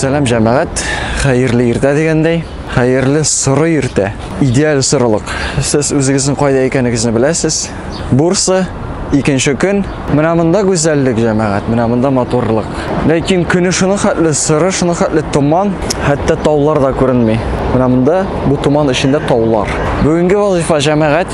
Сәлам җәмәгать, хәерле иртә дигәндәй, хәерле соры иртә. Идеаль сорылык. Сез үзегезнең кайда икәнегезне беләсез. Бурса икенче көн. Менә монда гүзәллек җәмәгать, менә монда матурлык. Ләкин көне шуны хәтле сыры, шуны хәтле томан, хәтта таулар да күренми. Менә монда бу томан эчендә таулар. Бүгенге вазифа җәмәгать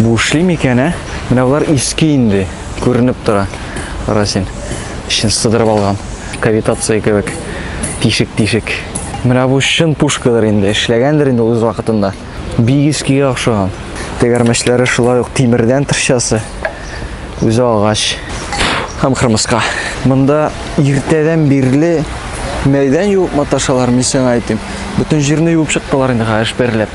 Бу эшли микән, ә? Менә болар иске инде, күренеп тора. Расин эчен сыдырып алган. Кавитация кебек. Тишек-тишек. Менә бу чын пушкадыр инде, эшләгәндер инде үз вакытында. Бик искегә охшаган. Тегәрмәчләре шулай ук тимердән тырчасы. Үзе агач. Һәм кырмыска. Монда иртәдән бирле мәйдан юып маташалар, мин сиңа әйтим. Бөтен җирне юып чыктылар инде хәзер берләп.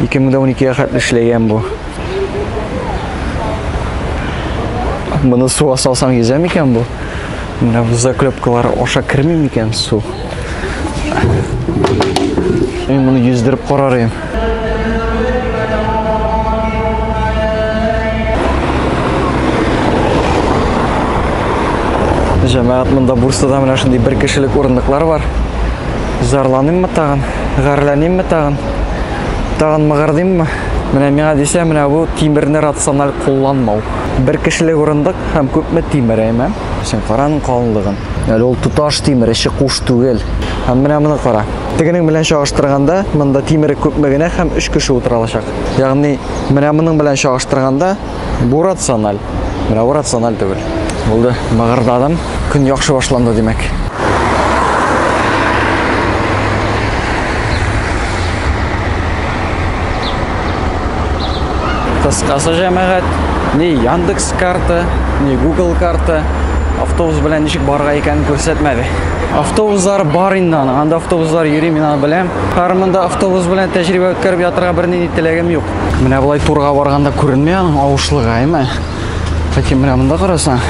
2012-гә хәтле эшләгән бу. Моны суга салсаң йөзә микән бу? Менә бу заклепкалар аша керми микән су? Мин моны йөздереп карар идем. Җәмәгать монда Бурсада менә шундый бер кешелек урындыклар бар. Зарланыйммы тагын? Гарләнимме тагын? Тагын мыгырдыйммы? Менә миңа дисә, менә бу тимерне рациональ кулланмау. Бер кешелек урындык һәм күпме тимер, әйме? Син караның калынлыгын. Әле ул туташ тимер, эче куш түгел. Һәм менә моны кара. Тегенең белән чагыштырганда, монда тимере күпме генә һәм 3 кеше утыра алачак. Ягъни, менә моның белән чагыштырганда, Бу рациональ. Менә бу рациональ түгел. Булды, мыгырдадым. Көн яхшы башланды, димәк. Кыскасы җәмәгать, ни Яндекс карта, ни Google карта автобус белән ничек барга икән күрсәтмәде. Автобуслар бар инде аны, анда автобуслар йөри, мин аны беләм. Кармында автобус белән тәҗрибә үткәреп ятырга бернинди теләгем юк. Менә болай турга барганда күренми аның авышлыгы, әйме? Ләкин менә монда карасаң,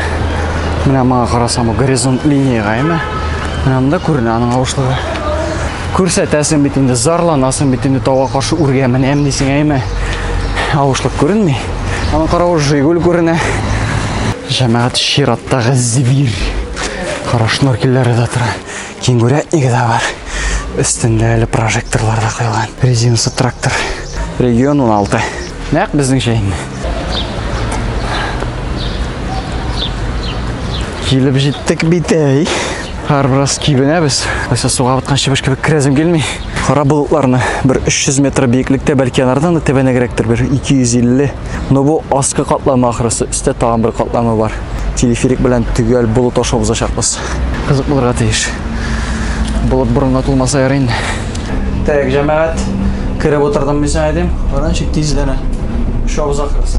менә моңа карасаң, бу горизонт линияга, әйме? Менә монда күренә аның авышлыгы. Күрсәтәсең бит инде, зарланасың бит инде тауга каршы үргә менәм дисең, әйме? Авышлык күренми. Аны карау Жигуль күренә. Җәмәгать чираттагы зибир. Кара шнуркелләре дә тора. Кенгурятнигы да бар. Өстендә әле прожекторлар да куелган. Резинасы трактор. Регион 16. Нәкъ безнеңчә инде. Килеп җиттек бит әй. Хәр бераз кибенәбез. Кайсы суга баткан чебеш кебек керәзем килми. Кара болытларны бер 300 метр биеклектә, бәлки анардан да тәбәнәгрәктер, бер 250 Но бу аскы катлама ахрысы, өстә тагын бер катлама бар. Телеферик белән төгәл болыт аша узачакбыз. Кызык булырга тиеш. Болыт борынга тулмаса ярый инде. Так, җәмәгать, кереп утырдым мин сиңа әйтим. Баран чик тизләнә. Шабыз ахрысы.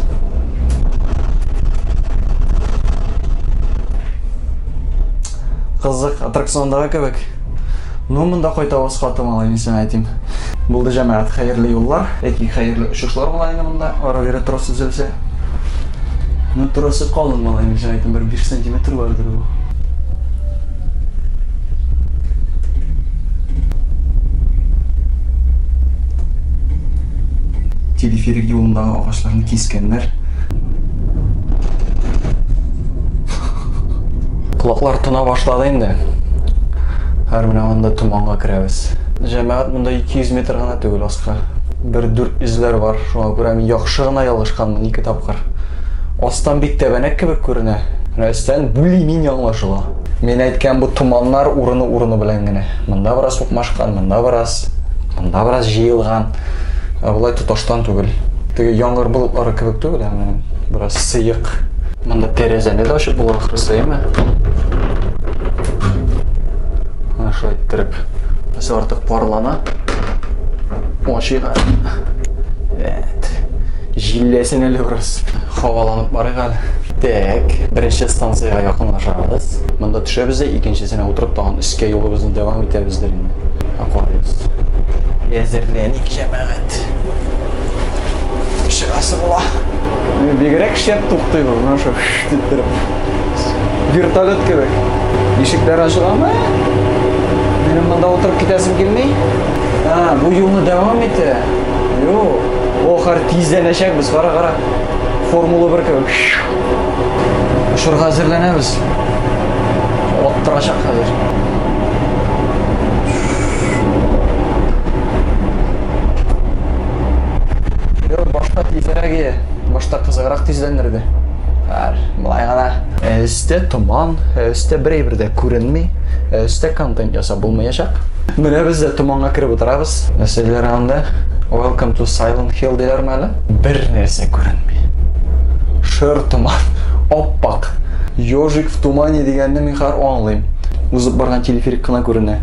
Кызык, аттракциондагы кебек. Ну, монда кайта васха тыңлау инде сиңа әйтим. Булды җәмәгать, хәерле юллар. Әти, хәерле очышлар була инде монда. Ара-бирә трос өзелсә. Ну, тросы калын малай инде сиңа әйтим, бер 5 сантиметр бардыр бу. Телеферик юлындагы агачларны кискәннәр. Колаклар тона башлады инде. Хәр менә анда томанга керәбез. Җәмәгать монда 200 метр гына түгел аска. Бер дүрт эзләр бар. Шуңа күрә мин яхшы гына ялгышканмын ике тапкыр. Астан бик тәбәнәк кебек күренә. Менә өстән бүли мин яңлашыла. Мин әйткән бу томаннар урыны-урыны белән генә. Монда бераз укмашкан, монда бераз, монда бераз җыелган. Ә болай тоташтан түгел. Теге яңгыр болытлары кебек түгел, ә менә бераз сыек. Монда тәрәзәне дә ачып була ахрысы, әйме? Менә шулай иттереп. Без артык парлана. Ачыйга. Әт. Җилләсен әле бераз. Хаваланып барыйк әле. Так, беренче станциягә якынлашабыз. Монда төшәбез дә икенчесенә утырып тагын өскә юлыбызны дәвам итәбез дә инде. Аквариус. Әзерләник, җәмәгать. Шырасы була. Бигрәк шәп туктый бу, менә шул дип торып. Вертолет кебек. Ишекләр ачыламы? Минем монда утырып китәсем килми. А, бу юлны дәвам итә. Йо, ох, хәр тизләнәчәкбез, кара, кара. Формула 1 кебек. Шурга әзерләнәбез. Оттырачак хәзер. Юк, башта тизрәк иде. Башта кызыграк тизләндерде. Хәер, болай гына. Өстә томан, өстә бер әйбер дә күренми, өстә контент ясап булмаячак. Менә без дә томанга кереп утырабыз. Нәрсә диләр анда? Welcome to Silent Hill диләрме әле? Бер нәрсә күренми. Шыр томан, ап-ак. Ёжик в тумане дигәнне мин хәзер аңлыйм. Узып барган телеферик кына күренә.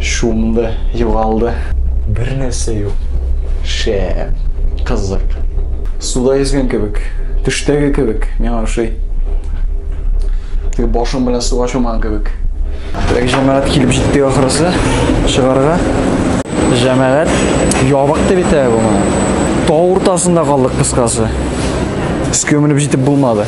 Шумды, югалды. Бер нәрсә юк. Шә, кызык. Суда йөзгән кебек, төштәге кебек, миңа ошый. Теге башым белән суга чумган кебек. Теге җәмәгать килеп җитте ахырысы, чыгарга. Җәмәгать ябык дип әйтә бу. Тау уртасында калдык кыскасы. Өскә менеп җитеп булмады.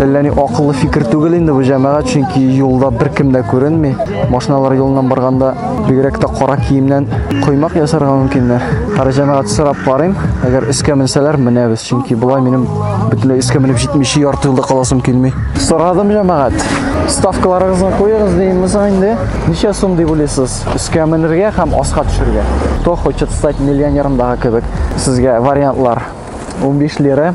Әллә ни акыллы фикер түгел инде бу җәмәгать, чөнки юлда беркем дә күренми. Машиналар юлыннан барганда бигрәк тә кара киемнән коймак ясарга мөмкиннәр. Кара җәмәгать сорап карыйм, әгәр өскә менсәләр, менәбез, чөнки болай минем бөтенләй өскә менеп җитмичә ярты юлда каласым килми. Сорадым җәмәгать. Ставкаларыгызны куегыз димез инде. Ничә сум дип уйлыйсыз? Өскә менергә һәм аска төшергә. Кто хочет стать миллионером дагы кебек. Сезгә вариантлар 15 лира,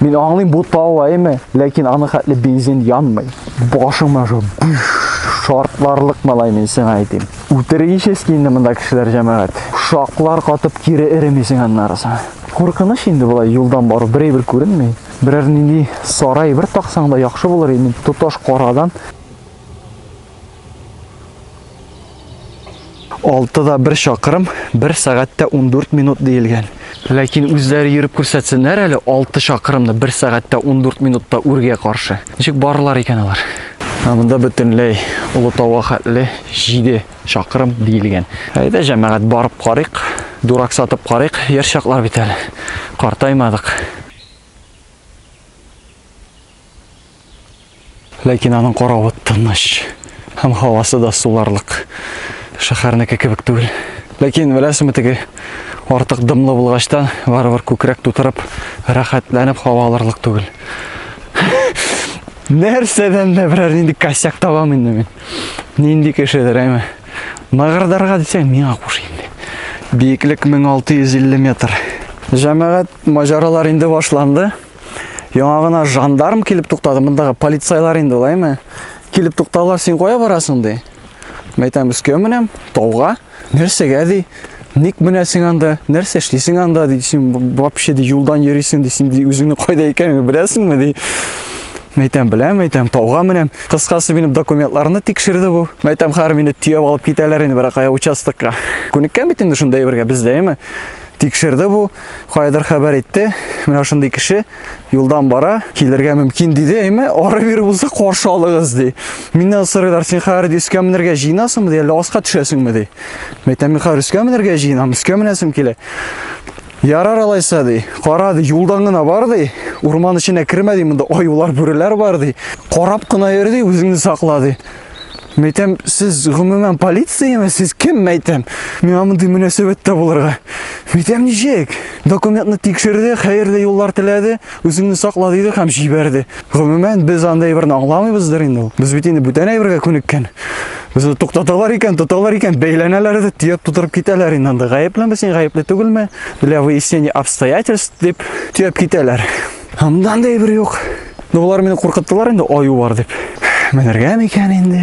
Мин аңлыйм бу талайымы, ләкин аны хәтле бензин янмый. Башыңа жо шартларлык малай мин сиңа әйтим. Үтерегечески инде монда кешеләр җәмәгать. Шаклар катып кире эремисең аннарысы. Куркыныч инде болай юлдан бару берәй бер күренми. Берәр нинди сарай бер таксаң да яхшы булыр инде. Тоташ карадан Алты да бер чакырым, бер сәгатьтә 14 минут диелгән. Ләкин үзләре йөреп күрсәтсеннәр әле 6 чакырымны бер сәгатьтә 14 минутта үргә каршы. Ничек барылар икән алар? Ә монда бөтенләй Олытауга хәтле 7 чакырым диелгән. Әйдә, җәмәгать, барып карыйк, дурак сатып карыйк, яшь чаклар бит әле. Картаймадык. Ләкин аның каравы тыныч һәм һавасы да суларлык. Шәһәрнеке кебек түгел. Ләкин беләсеңме теге артык дымлы булгачтан барыбер күкрәк тутырып, рәхәтләнеп һава алырлык түгел. Нәрсәдән дә берәр нинди косяк табам инде мин. Нинди кешедер, әйме. Мыгырдарга дисәң, миңа куш инде. Биеклек 1650 метр. Җәмәгать маҗаралар инде башланды. Яңа гына жандарм килеп туктады, мондагы полицайлар инде лайме. Килеп тукталар, син кая барасың ди. Мәйтәм өскә менәм, тауга. Нәрсәгә ди? Ник менәсең анда? Нәрсә эшлисең анда ди? Син вообще ди юлдан йөрисең ди, син ди үзеңне кайда икәнен беләсеңме ди. Мәйтәм беләм, мәйтәм тауга менәм. Кыскасы минем документларны тикшерде бу. Мәйтәм хәр мине төяп алып китәләр инде бирәкая участокка. Күнеккән бит инде шунда әйбергә бездә, әйме? Тикшерде бу, каядыр хәбәр итте. Менә шундый кеше юлдан бара, килергә мөмкин диде, әйме, ары бир булса каршы алыгыз ди. Миннән сорыйлар, син хәер дискә менергә җыенасыңмы ди, әллә аска төшәсеңме ди. Мәйтәм, мин хәер өскә менергә җыенам, өскә менәсем килә. Ярар алайса ди, кара ди, юлдан гына бар ди, урман эченә кермә ди, монда аюлар, бүреләр бар ди. Карап кына йөр ди, үзеңне сакла ди. Мәйтәм, сез гомумән полицияме? Сез кем, мәйтәм? Миңа мондый мөнәсәбәттә булырга. Мәйтәм ничек? Документны тикшерде, хәерле юллар теләде, үзеңне сакла диде һәм җибәрде. Гомумән, без андай берне аңламыйбыздыр инде ул. Без бит инде бүтән әйбергә күнеккән. Безне туктаталар икән, тоталар икән, бәйләнәләр дә төяп тутырып китәләр инде анда. Гаеплеме син, гаепле түгелме? Для выяснения обстоятельств дип төяп китәләр. Һамдан да әйбер юк. Ну, болар мине куркыттылар инде, аю бар дип. Менергә микән инде?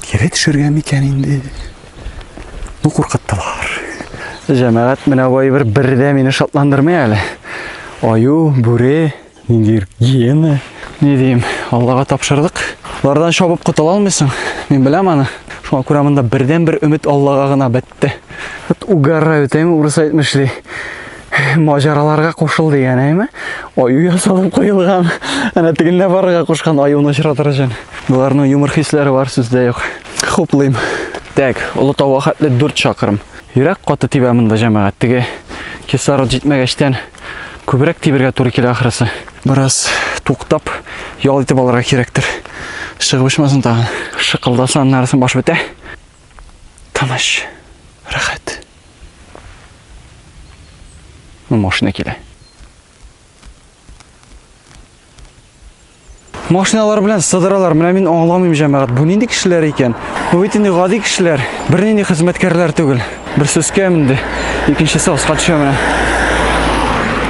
Кире төшергә микән инде? Ну, куркыттылар. Җәмәгать менә бу әйбер бер дә мине шатландырмый әле. Аю, бүре, ниндидер гиена. Ни дим, Аллага тапшырдык. Лардан шабып котыла алмыйсың. Мин беләм аны. Шуңа күрә монда бердән бер өмет Аллага гына бит. әйтте. Вот угораю, тәме урыс әйтмешли. Маҗараларга кушыл дигән, әйме? Аю ясалып куелган. Әнә тегендә барырга кушкан аюны очратыр өчен. Боларның юмор хисләре бар сүздә юк. Хуплыйм. Так, олы тауга хәтле 4 чакрым. Йөрәк каты тибә монда җәмәгать. Теге кислород җитмәгәчтән күбрәк тибергә туры килә ахрысы. Бераз туктап, ял итеп алырга кирәктер. Шыгып очмасын тагын. Шыкылдаса, аннарысын баш бетә. Тыныч, рәхәт. Ну, машина килә. Машиналар белән сыдыралар. Менә мин аңламыйм, җәмәгать. Бу нинди кешеләр икән? Бу бит инде гади кешеләр. Бернинди хезмәткәрләр түгел. Бер сөскә менде. Икенчесе аска төшә менә.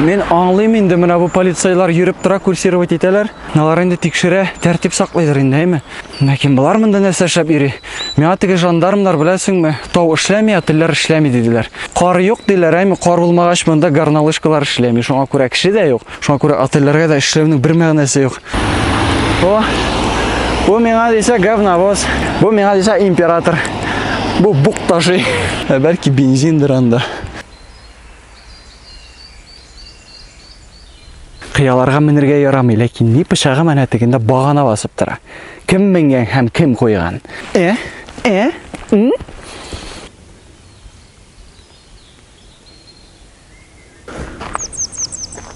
Мин аңлыйм инде, менә бу полицайлар йөреп тора, курсировать итәләр. Алар инде тикшерә, тәртип саклыйдыр инде, әйме? Ләкин болар монда нәрсә эшләп йөри? Миңа теге жандармнар беләсеңме, тау эшләми, отельләр эшләми диделәр. Кар юк диләр, әйме? Кар булмагач монда горнолыжкалар эшләми. Шуңа күрә кеше дә юк. Шуңа күрә отельләргә дә эшләүнең бер мәгънәсе юк. О! Бу миңа дисә говновоз. Бу миңа дисә император. Бу бук ташый. Ә бәлки бензиндер анда. Кыяларга менергә ярамый, ләкин ни пычагы менә тегендә багана басып тора. Кем менгән һәм кем куйган? Э? Э? М?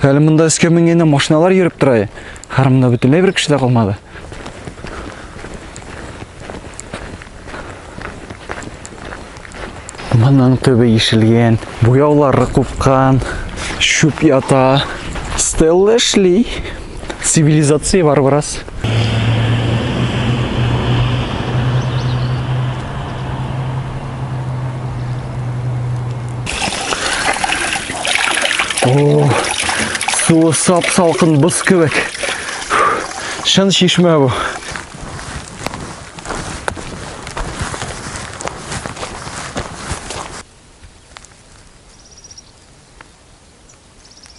Әле монда өскә менгәндә машиналар йөреп тора. Хәр монда бөтенләй бер кеше дә калмады. Моның төбе ишелгән, буяулары купкан, шүп ята. Стелла эшли. Цивилизация бар бераз. О, суы сап-салқын быз кебек. Шын шишмә бу.